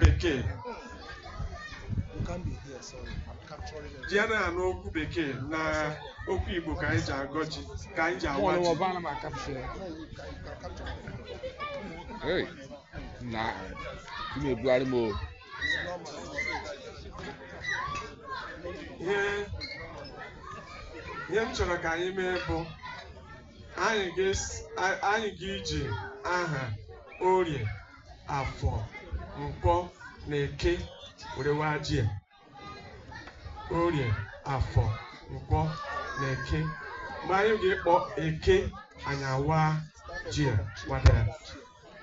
bekee ji anaghị anụ okwu bekee na okwu igbo ka anyị ji agọ ji ka anyị ji awa ji Hey, na ị na-ebugharị m o. ihe ihe m chọrọ ka anyị mee bụ anyị ga-esi- a- anyị ga-iji aha orie afọ nkwọ na eke were waa ji a. orie afọ nkwọ na eke mgbe anyị ga-ekpọ eke anyị awaa ji a wadara